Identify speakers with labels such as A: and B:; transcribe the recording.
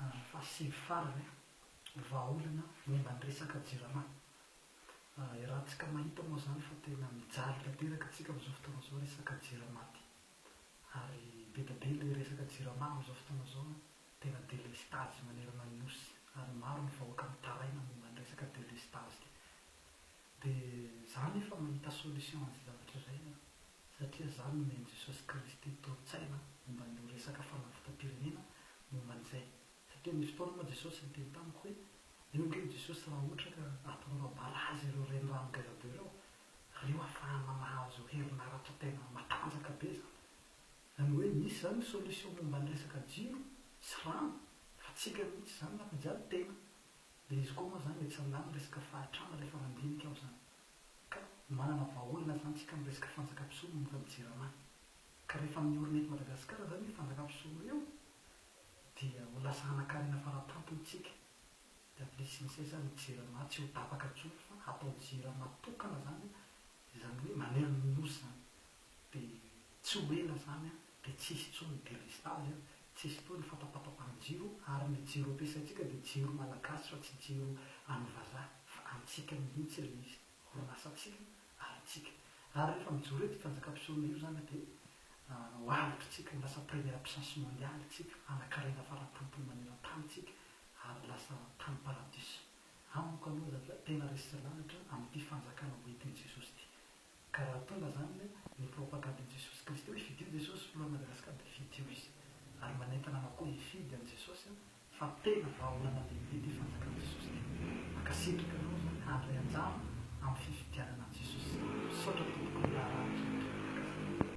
A: Ary fahasivy farany, vahaolana momba ny resaka jirama. Iarahantsika mahita moa izany fa tena mijaly tanteraka antsika amin'izao fotoana izao resaka jirama ity. Ary be dia be ilay resaka jirama amin'izao fotoana izao an, tena delestazy manerana ny Nosy ary maro ny vahoaka mitaraina momba ny resaka delestazy ity. Dia za nefa mahita solution an'izay zavatra izay an. satria zany no nen'i Jesosy Kristy tolo-tsaina momba an'io resaka fanavotam-pirenena momba an'izay, satria nisy fotoana moa Jesosy niteny tamiko hoe, eo ange i Jesosy raha ohatra ka ataonareo barazy ireo renirano ngeza be ireo, ary io afahana mahazo herinaratra tena matanjaka be zany, zany hoe misy zany ny solution momba ny resaka jiro sy rano fa tsika mihitsy zany nampijaly tena, de izy koa moa zany etsy ambany resaka fahatrana refa mandinika aho zany. Manana vahaolana zany tsika am resaka fanjaka mpisolo no efa mijery anany. Ka rehefa miorina eto Madagascar zany io fanjaka mpisolo io dia ho lasa hanakarena fara tampony tsika. Dia avy le sinisay zany ho jirama tsy ho tapaka tsony fa hatao jirama tokana zany izany hoe manery ny nosy zany. dia tsy ho ela izany dia tsy hisy intsony ny delestazy, tsy hisy intsony ny fatapatapahn-jiro ary ny jiro ampiasaintsika dia jiro malagasy fa tsy jiro any vazaha fa antsika mihitsy ilay izy, orinasantsika ary antsika. Ary rehefa mijoro eto i Mpanjakam-pisorona io izany dia ho avotra isika, ho lasa première puissance mondiale isika, hanankarena faratampon'ny maneran-tany isika ary lasa tany paradiso. Amiko aloha zany fa tena resy sy lalitra amin'ity fanjakana hoentin'i Jesosy ity. Ka raha tonga zany le ny propagande an'i Jesosy Kristy hoe fidio Jesosy filohan'i Madagascar de fidio izy ary manentana anao koa hifidy an'i Jesosy an fa tena vahaolana lehibe ty fanjakan'i Jesosy ty. Mankasitraka anao zany handray anjara amin'ny fifidianana an'i Jesosy. Misaotra tompoko ny raharaha nozarainao mahakasika.